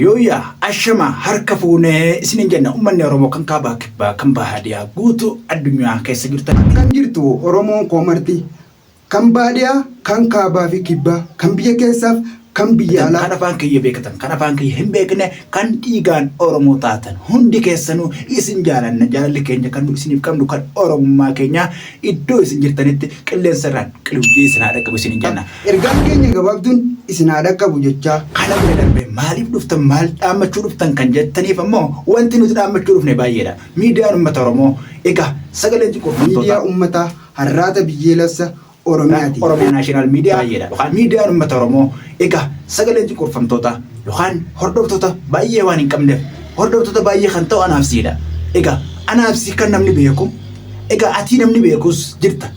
Yooyyaa ashamaa harka fuune isiniin jenna ummanni Oromoo kan kaabaa kibbaa kan baadiyaa guutuu addunyaa keessa jirtan. Akkam jirtu Oromoon koo marti kan baadiyaa kan kaabaa fi kibbaa kan biyya keessaaf kan biyya Tan alaa. kan afaan kiyya beekatan kan afaan kiyya hin beekne kan dhiigaan Oromoo taatan hundi keessanuu isin jaalanna jaalalli keenya kan nu isiniif qabnu kan Oromummaa keenyaa iddoo isin jirtanitti qilleensa irraan qilibjii isin haa dhaqqabu isiniin jenna. Ergaan keenya gabaabduun isin haa dhaqqabu jechaa. Kana bira darbee maaliif dhuftan maal dhaammachuu dhuftan kan jettaniif ammoo wanti nuti dhaammachuu dhufne baay'eedha. Miidiyaan Uummata Oromoo egaa sagalee xiqurfamtootaa. Miidiyaa Uummataa Harraata Biyyeelassa Oromiyaati. Oromia National Media baay'eedha. Yookaan Miidiyaan Uummata Oromoo egaa sagalee xiqurfamtootaa yookaan hordoftoota baay'ee waan hin qabneef hordoftoota baay'ee kan ta'u anaabsiidha. Egaa anaabsii kan namni beeku egaa atii namni beekus jirta.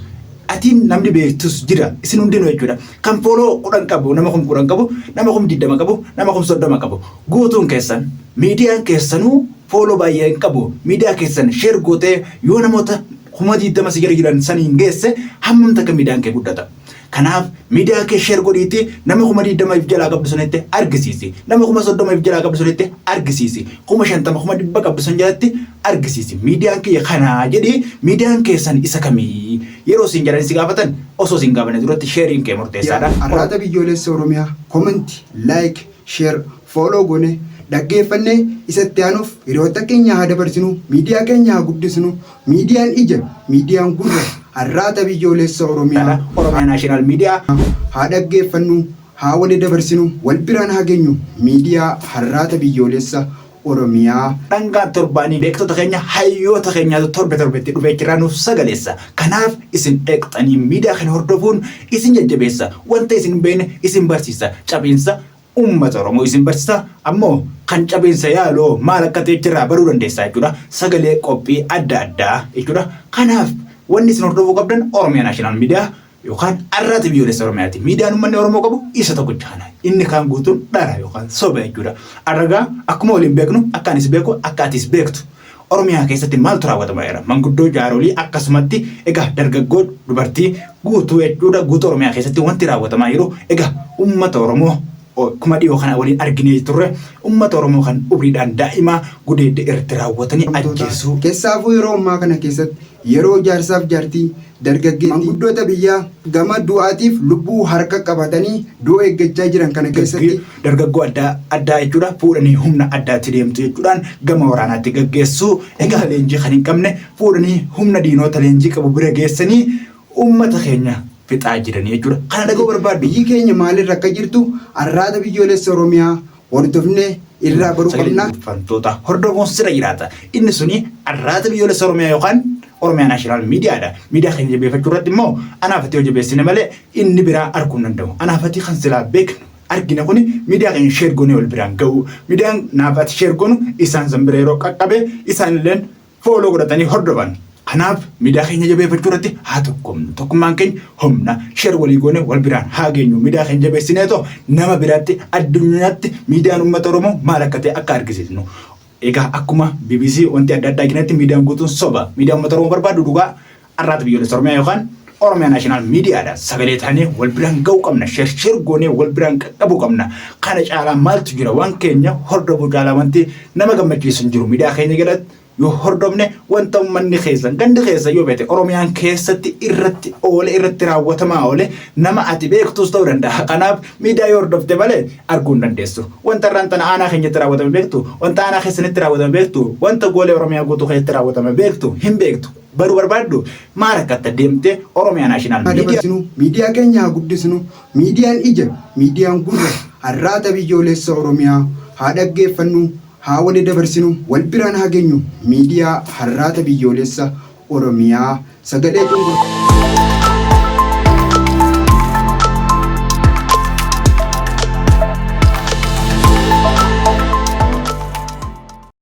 atiin namni beektus jira isin hundinuu jechuudha kan fooloo kudhan qabu nama kum kudhan qabu nama kum digdama qabu nama kum soddoma qabu guutuun keessan miidiyaan keessanuu fooloo baay'ee hin qabu miidiyaa keessan sheer gootee yoo namoota kuma digdama si jala jiran saniin geesse hammam takka miidiyaan kee guddata kanaaf miidiyaa kee sheer godhiitti nama kuma digdama if jalaa qabdu sanitti argisiisi nama kuma soddoma if jalaa qabdu sanitti argisiisi kuma shantama kuma dhibba qabdu san jalatti argisiisi miidiyaan kiyya kanaa jedhi miidiyaan keessan isa kamii yeroo isin jedhanii si gaafatan osoo isin gaafanne duratti sheeriin kee murteessaadha. Arraata Biyyoolessa Oromiyaa comment, like, share, follow goone dhaggeeffannee isa itti aanuuf hiriyoota keenya haa dabarsinu miidiyaa keenya haa guddisnu miidiyaan ija miidiyaan gurra Arraata Biyyoolessa Oromiyaa Oromiyaa National Media haa dhaggeeffannu Haa wali dabarsinu wal biraan haa genyu midiyaa harraata biyyoolessa oromiyaa. Dhangaa torbaanii beektota keenya hayyoota keenyaatu torbe torbetti dhufee achirraa nuuf sagaleessa. Kanaaf isin dhaqxanii miidiyaa kana hordofuun isin jajjabeessa. Wanta isin hin beekne isin barsiisa. Cabiinsa uummata Oromoo isin barsiisa. Ammoo kan cabiinsa yaaloo maal akka ta'e achirraa baruu dandeessaa jechuudha. Sagalee qophii adda addaa jechuudha. Kanaaf wanni isin hordofuu qabdan Oromiyaa National Media yookaan arraata biyyoolessa Oromiyaati. Miidiyaan uummanni Oromoo qabu isa tokkicha kana. Inni kaan guutuun dhara yookaan soba jechuudha. Arragaa akkuma waliin beeknu akka anis beeku akka atis beektu. Oromiyaa keessatti maaltu raawwatamaa jira? Manguddoo jaarolii akkasumatti egaa dargaggoo dubartii guutuu jechuudha guutuu Oromiyaa keessatti wanti raawwatamaa jiru egaa uummata Oromoo kuma dhiyoo kana waliin arginee turre uummata Oromoo kan umriidhaan daa'imaa gudeedda irratti raawwatanii ajjeesuu. Keessaafuu yeroo ammaa kana keessatti Yeroo jaarsaaf jaartii, dargaggeettii, manguddoota biyyaa gama du'aatiif lubbuu harka qabatanii du'a eeggachaa jiran kana keessatti, dargaggoo adda addaa jechuudha fuudhanii humna addaatti deemtu jechuudhaan gama waraanaatti gaggeessuu, egaa leenjii kan hin qabne fuudhanii humna diinoota leenjii qabu bira geessanii uummata keenya fixaa jiranii jechuudha. Kana dhaga'uu barbaaddu? Biyyi keenya maalirra akka jirtu Arraata Biyyoolessa Oromiyaa. hordofne irraa baruu Sagalee qabna. Dubbifamtoota hordofuun sirra jiraata. Inni suni arraata biyyoolessa Oromiyaa yookaan Oromiyaa Naashinaal Miidiyaadha. Miidiyaa keenya jabeeffachuu irratti immoo anaafatii yoo jabeessine malee inni biraa arguu hin danda'u. Anaafatii kan silaa beeknu argina kuni miidiyaa keenya sheer goonee wal biraan ga'u. Miidiyaan naafatii sheer goonu isaan san bira yeroo qaqqabe isaan illeen fooloo godhatanii hordofan. Kanaaf miidiyaa keenya jabeeffachuu irratti haa tokkomnu. Tokkummaan keenya humna sheer walii goone wal biraan haa geenyu. Miidiyaa keenya jabeessinee too nama biraatti addunyaatti miidiyaan uummata Oromoo maal akka ta'e akka argisiisnu. Egaa akkuma BBC wanti adda addaa jiretti miidiyaan guutuun soba. Miidiyaan uummata Oromoo barbaadu dhugaa Arraata biyyoolessa Oromiyaa yookaan Oromiyaa Naashinaal Miidiyaadhaan sagalee taanee wal biraan ga'uu qabna. Shersheer goonee wal biraan qaqqabuu qabna. Kana caalaa maaltu jira waan keenya hordofuu caalaa wanti nama gammachiisu hin jiru. Miidiyaa keenya jalatti yoo hordofne wanta uummanni keessan gandi keessan yoo beekte Oromiyaan keessatti irratti oole irratti raawwatamaa oole nama ati beektus ta'uu danda'a. Kanaaf miidiyaa yoo hordofte malee arguu hin dandeessu. Wanta irraan tana aanaa keenyatti raawwatame beektu, wanta aanaa keessanitti raawwatame beektu, wanta goolee Oromiyaa guutuu keessatti raawwatame beektu hin beektu. Baru barbaaddu? Maa rakkatta deemtee Oromia National Media. dabarsinu, miidiyaa keenya haa guddisnu, miidiyaan ija, miidiyaan gurra, arraata biyyooleessa Oromiyaa haa dhaggeeffannu, haa wali dabarsinu, wal biraan haa geenyu, miidiyaa harraata biyyooleessa Oromiyaa sagalee cunqur.